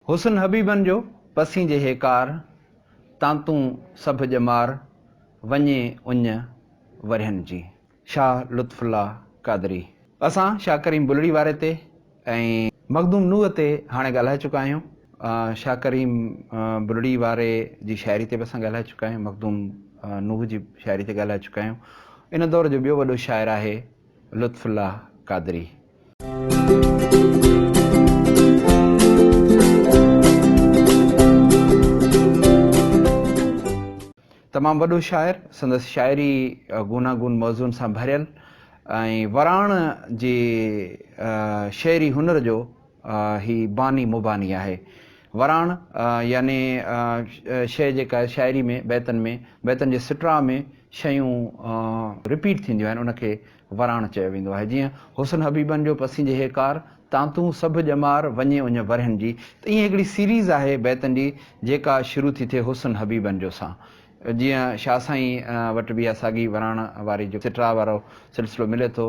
حسن حبيبن جو پسين جي هيڪار، تانتون سڀ ڄمار، وڃي اڃ ورهين جي. شاهه لطف الله قادري. اسان شاهه ڪريم بلڙي واري تي ۽ مخدوم نوح تي هاڻي ڳالهائي چڪا آهيون. شاهه ڪريم بلڙي واري جي شاعري تي به اسان ڳالهائي چڪا آهيون. مخدوم نوح جي شاعري تي ڳالهائي چڪا آهيون. ان دور جو ٻيو وڏو شاعر آهي لطف الله قادري. تمام وڏو شاعر، سندس شاعري گوناگون موضوعن سان ڀريل ۽ وراڻ جي شعري هنر جو هي باني مباني آهي. وراڻ يعني شيء جيڪا شاعري ۾ بيتن ۾ بيتن جي سٽراء ۾ شيون رپيٽ ٿينديون آهن ان کي وراڻ چيو ويندو آهي. جيئن حسن حبيبن جو پسين جي هيڪار، تان تون سڀ ڄمار، وڃي اڃ ورهين جي، ته ائين هڪڙي سيريز آهي بيتن جي، جيڪا شروع ٿي ٿئي حسن حبيبن جو سان. جيئن شاهه سائين وٽ به اها ساڳي وراڻ واري جيڪو سٽراء وارو سلسلو ملي ٿو،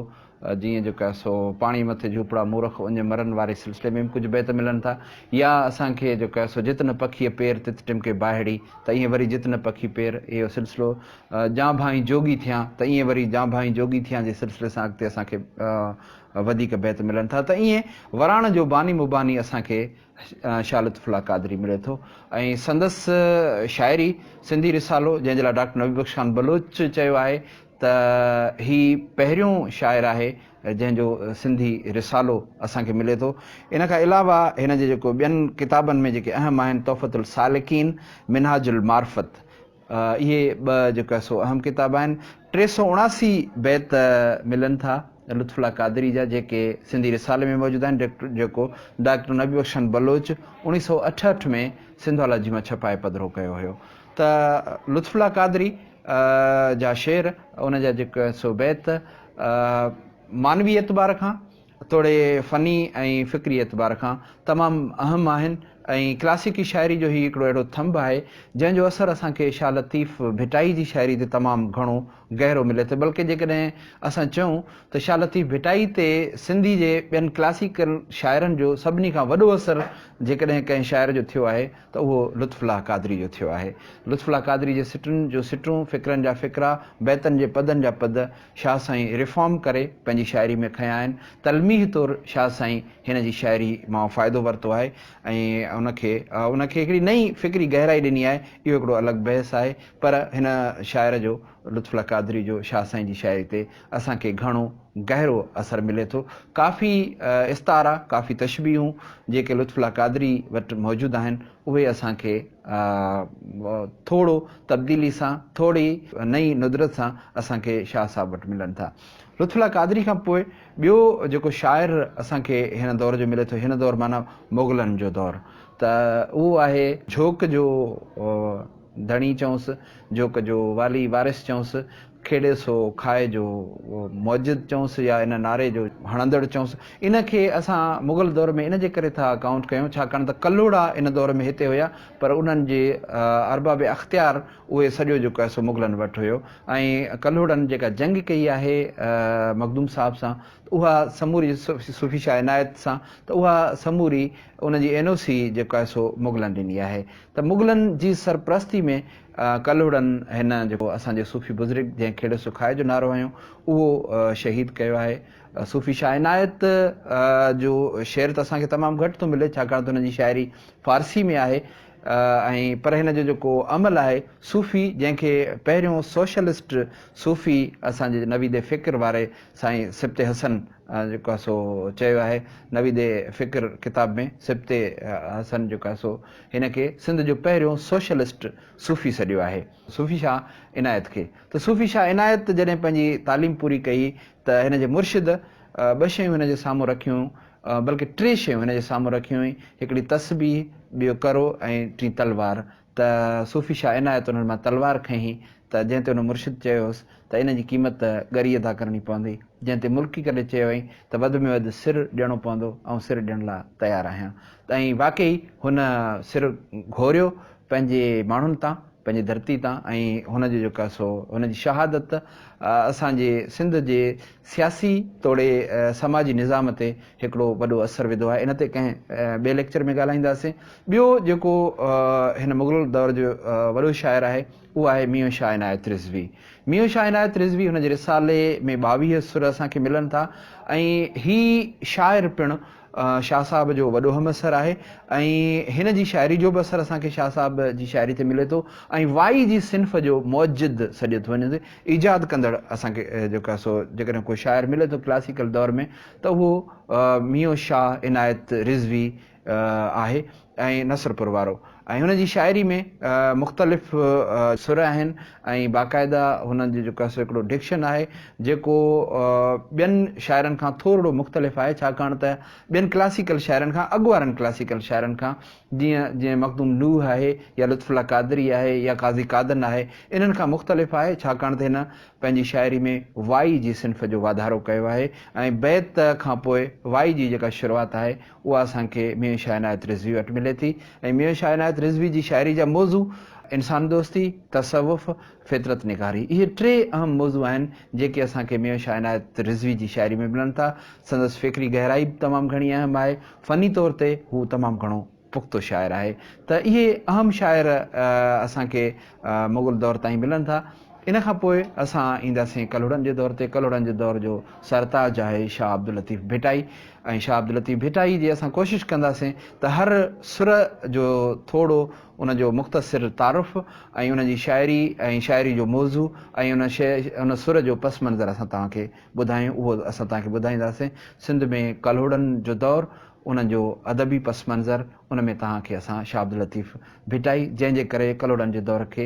جيئن جيڪو آهي سو پاڻي مٿي جهوپڙا مورخ اڃ مرن واري سلسلي ۾ به ڪجهه بيت ملن ٿا يا اسان کي جيڪو آهي سو جت نه پکيء پير تت ٽمڪي باهڙي ته ائين وري جت نه پکي پير اهو سلسلو جانڀائين جوڳي ٿيان ته ائين وري جانڀائين جوڳي ٿيان جي سلسلي سان اڳتي اسان کي وڌيڪ بيت ملن ٿا ته ائين وراڻ جو باني مباني اسان کي شاھ لطف الله قادري ملي ٿو ۽ سندس شاعري سنڌي رسالو جنهن جي لاء ڊاڪٽر نبي بخش خان بلوچ چيو آهي ته هي پهريون شاعر آهي جنهن جو سنڌي رسالو اسان کي ملي ٿو ان کان علاوه هن جي جيڪو ٻين ڪتابن ۾ جيڪي اهم آهن تحفت السالڪين منهاج المعرفت اهي ٻه جيڪا سو اهم ڪتاب آهن. ٽي سؤ اڻاسي بيت ملن ٿا لطف الله قادري جا جيڪي سنڌي رسالي ۾ موجود آهن جيڪو ڊاڪٽر نبي بخشن بلوچ اوڻيهه سؤ اٺهٺ ۾ سنڌالاجي مان ڇپائي پڌرو ڪيو هيو ته لطف الله قادري جا شعر ان جا جيڪا سو بيت معنوي اعتبار کان توڙي فني ۽ فڪري اعتبار کان تمام اهم آهن ۽ ڪلاسيڪي شاعري جو هي هڪڙو اهڙو ٿنڀ آهي، جنهن جو اثر اسان کي شاهه لطيف ڀٽائي جي شاعري تي تمام گهڻو گهرو ملي ٿو، بلڪه جيڪڏهن اسان چئون ته شاهه لطيف ڀٽائي تي سنڌي جي ٻين ڪلاسيڪل شاعرن جو سڀني کان وڏو اثر جيڪڏهن ڪنهن شاعر جو ٿيو آهي ته اهو لطف الله قادري جو ٿيو آهي. لطف الله قادري جي سٽن جون سٽون، فڪرن جا فڪرا، بيتن جي پدن جا پد، شاهه سائين ريفارم ڪري پنهنجي شاعري ۾ کنيا آهن. تلميح طور شاهه سائين هن جي شاعري مان فائدو ورتو آهي ۽ ان کي ان کي هڪڙي نئين فڪري گهرائي ڏني آهي. اهو هڪڙو الڳ بحث آهي پر هن شاعر جو لطف الله قادري جو شاهه سائين جي شاعري تي اسان کي گهڻو گهرو اثر ملي ٿو. ڪافي استعارا، ڪافي تشبيهون جيڪي لطف الله قادري وٽ موجود آهن اهي اسان کي ٿورو تبديلي سان ٿوري نئين ندرت سان اسان کي شاهه صاحب وٽ ملن ٿا. لطف الله قادري کان پوء ٻيو جيڪو شاعر اسان کي هن دور جو ملي ٿو هن دور معنيٰ مغلن جو دور ته اهو آهي جهوڪ جو ڌڻي چئونس جهوڪ جو والي وارث چئونس کيڏي سو کائي جو موجد چئونس يا ان نعري جو هڻندڙ چئونس ان کي اسان مغل دور ۾ ان جي ڪري ٿا ڪائونٽ ڪيون ڇاڪاڻ ته ڪلهوڙا ان دور ۾ هتي هيا پر انهن جي ارباب اختيار اهي سڄو جيڪو آهي سو مغلن وٽ هيو ۽ ڪلهوڙن جيڪا جنگ ڪئي آهي مخدوم صاحب سان ته اها سموري صوفي شاهه عنايت سان ته اها سموري ان جي اين او سي جيڪو آهي سو مغلن ڏني آهي ته مغلن جي سرپرستي ۾ ڪلهوڙن هن جيڪو اسان جو صوفي بزرگ جنهن کهڙو سکايو جو نعرو هنيو اهو شهيد ڪيو آهي. صوفي شاهه عنايت جو شعر ته اسان کي تمام گهٽ ٿو ملي ڇاڪاڻ ته هن جي شاعري فارسي ۾ آهي ۽ پر هن جو جيڪو عمل آهي صوفي جنهن کي پهريون سوشلسٽ صوفي اسان جي نويد فڪر واري سائين سبطي حسن جيڪو آهي سو چيو آهي نويد فڪر ڪتاب ۾ سبطي حسن جيڪو آهي سو هن کي سنڌ جو پهريون سوشلسٽ صوفي سڏيو آهي. صوفي شاهه عنايت کي ته صوفي شاهه عنايت جڏهن پنهنجي تعليم پوري ڪئي ته هن جي مرشد ٻه شيون هن جي سامهون رکيون بلڪه ٽي شيون هن جي سامهون رکيون هئي هڪڙي تسبيح ٻيو ڪرو ۽ ٽين تلوار ته صوفي شاهه عنايت انهن مان تلوار کنئي ته جنهن تي ان مرشد چيو هوس ته ان جي قيمت ته ڳري ادا ڪرڻي پوندي، جنهن تي ملڪي ڪڏهن چيو هئائين ته وڌ ۾ وڌ سر ڏيڻو پوندو، آئون سر ڏيڻ لاء تيار آهيان ته ۽ واقعي هن سر گهوريو پنهنجي ماڻهن تان، پنهنجي ڌرتي تان ۽ هن جو جيڪو سو هن جي شهادت اسان جي سنڌ جي سياسي توڙي سماجي نظام تي هڪڙو وڏو اثر وڌو آهي، ان تي ڪنهن ٻئي ليڪچر ۾ ڳالهائينداسين. ٻيو جيڪو هن مغل دور جو وڏو شاعر آهي. اهو آهي ميون شاهه عنايت رضوي. ميون شاهه عنايت رضوي هن جي رسالي ۾ ٻاويهه سر اسان کي ملن ٿا ۽ هي شاعر پڻ شاهه صاحب جو وڏو هم عصر آهي ۽ هن جي شاعري جو به اثر اسان کي شاهه صاحب جي شاعري تي ملي ٿو ۽ وائي جي صنف جو موجد سڏيو ٿو وڃي ايجاد ڪندڙ اسان کي جيڪو آهي سو جيڪڏهن ڪو شاعر ملي ٿو ڪلاسيڪل دور ۾ ته اهو ميون شاهه عنايت رضوي آهي ۽ نصرپور وارو ۽ هن جي شاعري ۾ مختلف سر آهن ۽ باقاعده هن جو جيڪو سو هڪڙو ڊڪشن آهي جيڪو ٻين شاعرن کان ٿورڙو مختلف آهي ڇاڪاڻ ته ٻين ڪلاسيڪل شاعرن کان اڳ وارن ڪلاسيڪل شاعرن کان جيئن جيئن مخدوم نوح آهي يا لطف الله قادري آهي يا قاضي قادن آهي انهن کان مختلف آهي ڇاڪاڻ ته هن پنهنجي شاعري ۾ وائي جي صنف جو واڌارو ڪيو آهي ۽ بيت کان پوء وائي جي جيڪا شروعات آهي اها اسان کي ميون شاهه عنايت رضوي وٽ ملي ٿي ۽ ميون شاهه عنايت رضوي جي شاعري جا موضوع انسان دوستي، تصوف، فطرت نگاري اهي ٽي اهم موضوع آهن جيڪي اسان کي ميون شاهه عنايت رضوي جي شاعري ۾ ملن ٿا. سندس فڪري گهرائي به تمام گهڻي اهم آهي. فني طور تي هو تمام گهڻو پختو شاعر آهي ته اهي اهم شاعر اسان کي مغل دور تائين ملن ٿا. ان کان پوء اسان اينداسين ڪلهوڙن جي دور تي. ڪلهوڙن جي دور جو سرتاج آهي شاهه عبداللطيف ڀٽائي ۽ شاهه عبداللطيف ڀٽائي جي اسان ڪوشش ڪنداسين ته هر سر جو ٿوڙو ان جو مختصر تعارف ۽ ان جي شاعري ۽ شاعري جو موضوع ۽ ان سر جو پس منظر اسان توهان کي ٻڌايون اهو اسان توهان کي ٻڌائينداسين سنڌ ۾ ڪلهوڙن جو دور ان جو ادبي پس منظر ان ۾ توهان کي اسان شاهه عبداللطيف ڀٽائي جنهن جي ڪري ڪلهوڙن جي دور کي